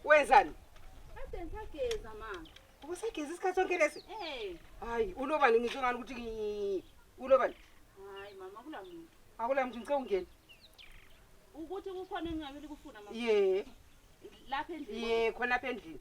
Wenzani? Kade ngisageza ma. Ubusageza isikhathi sonke lesi? Eh. Hayi, ulobani ngisho ngani ukuthi ngi- ulobani? Hayi mama kula muntu. Akula mntu ngicela ungene. Ukuthi kukhona engingakeli kufuna mama. Ye, Lapha endlini. ye khona apha endlini.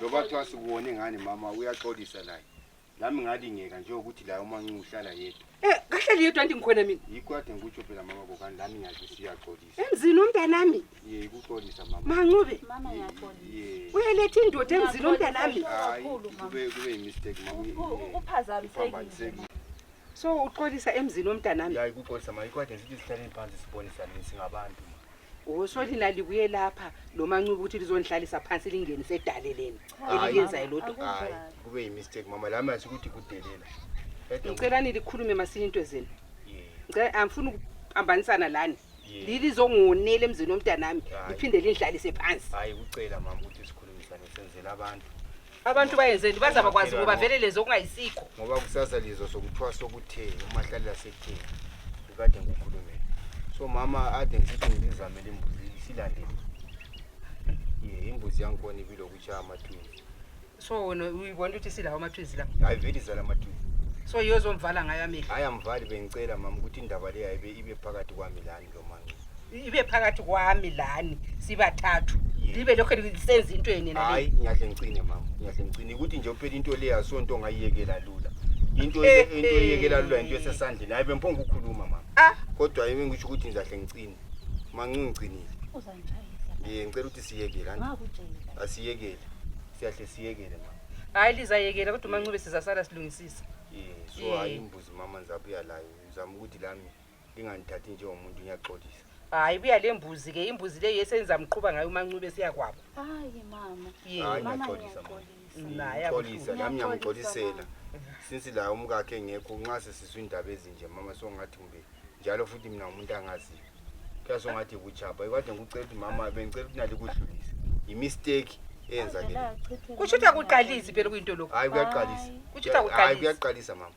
loba kuthiwa sikuwone ngani mama uyaxolisa laye nami ngalingeka njengokuthi laye umancuku uhlala yedwa Eh, kahle liyedwa nti ngikhona mina yikho kade ngikutsho phela mama kokani lami ngiyazi siyaxolisa emzini umntanami ye ikuxolisa mama mancube Mama Ye- ngiyaxolisa. ye uyeletha indoda emzini umntanami hayi Kakhulu, mama. kube kube yimistake mama U- u- ye- uphazamisekile. uphambanisekile. so uxolisa emzini omntanami ya ikuxolisa mama yikho kade ngithi sihlaleni phansi sibonisane singabantu Wosoli lalibuye lapha lomancuba ukuthi lizonihlalisa phansi lingenise edaleleni eliyenzayo lodwa. Hayi, kube yimistake mama lami asi ukuthi kudelela. Ede- Ngicela nilikhulume masinya into zenu. Yeah. Ngicela angifuni ukuphambanisana lani. Yeah. Lilizongonela emzini womntanami Hayi. liphinde linihlalise phansi. Hayi kucela mama ukuthi sikhulumisane senzele abantu. abantu bayenzeni bazaba kwazi ngoba vele lezo okungayisikho ngoba kusasa lizwa sokuthwasa okuthe umahlalela sekutheni kukade ngikhulumele so mama ade ngisithi ngizizamele imbuzi silandele ye imbuzi yangikhona ibile okutshaya amatwini so wena uyibona ukuthi silawo amatwizi la hayi vele izala amatwini so yozomvala ngayo amehlo hayi amvali bengicela mama ukuthi indaba le yayibe ibe phakathi kwami lani ibe phakathi kwami lani sibathathu libe lokho lisenza into yeni na hayi ngiyahle ngicine mama ngiyahle ngicine ukuthi nje uphela into le yasonto ongayiyekela lula into le eh, into eyekela lula into eh. esesandleni hayi bemphonga ukukhuluma mama ah. kodwa yimi ngisho ukuthi ngizahle ngicine mancu ngicinile ye ngicela ukuthi siyekele asiyekele siyahle siyekele mama hayi lizayekela kodwa umancube sizasala silungisisa ye so hayi eh. imbuzi mama ngizabuya layo ngizama ukuthi lami ndingandithathi njengomuntu ngiyaxolisa hayi buya le mbuzi ke imbuzi le yesenza mqhuba ngayo umancube siyakwabo hayi mama hayi ngiyaxolisa xolisa nami ngiyamxolisela since la umkakhe engekho nxa sesizwa iindaba ezinje mama songathi kumbe njalo futhi mina umuntu angaziyo kuyase ungathi kuchapha ikade ngikucela ukuthi mama bengicela ukuthi nalikudlulise yimisteki eyenzakele kutsho ukuthi akuqalisi phela kuyinto lokhu hayi kuyaqalisa kutsho ukuthi akuqalisi hayi kuyaqalisa mama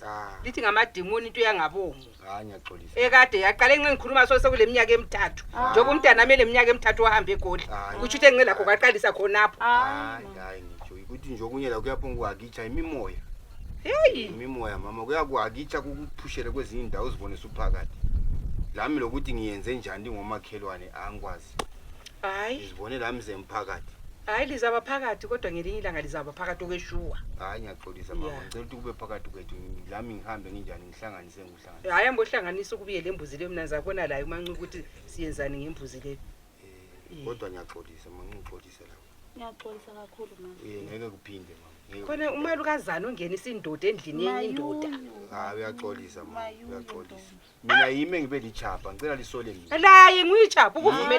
Cha. lithi ngamadimoni into yangabomu Hayi ngiyaxolisa. ekade yaqale nxa ngikhuluma so sekuleminyaka emithathu njengoba umntana ame leminyaka emithathu wahambe egoli Hayi. kutsho ukuthi enxe lakho kwaqalisa khonapho Hayi hayi ngitsho ukuthi nje okunye la kuyaphonga ukuhakitsha imimoya. heyi Imimoya mama kuyakuhakitsha kukuphushele kwezinye indawo uzibone suphakathi. Lami lokuthi ngiyenze njani ngomakhelwane angikwazi. hayi ngizibone la mze mphakathi hayi lizaba phakathi kodwa ngelinye ilanga lizaba phakathi okweshuwa hayi ngiyaxolisa mama Yeah. ngicela ukuthi kube phakathi kwethu lami ngihambe nginjani ngihlanganise ngikuhlanganise hayi ambohlanganisa ukubuye le mbuzi leyo mna ndizabona layo umancuku ukuthi siyenzani ngembuzi leyo Eh, kodwa ngiyaxolisa mama ngixolise la ngiyaxolisa kakhulu mama Eh, ngeke kuphinde mama Ngeke khona kuphinde. umali ukazana ongenisa indoda endlini yenye indoda Mayuyu. hayi uyaxolisa mama Mayuyu, uyaxolisa mina yimi engibe lichapha ngicela lisole mina laye nguyijapha ukuvumele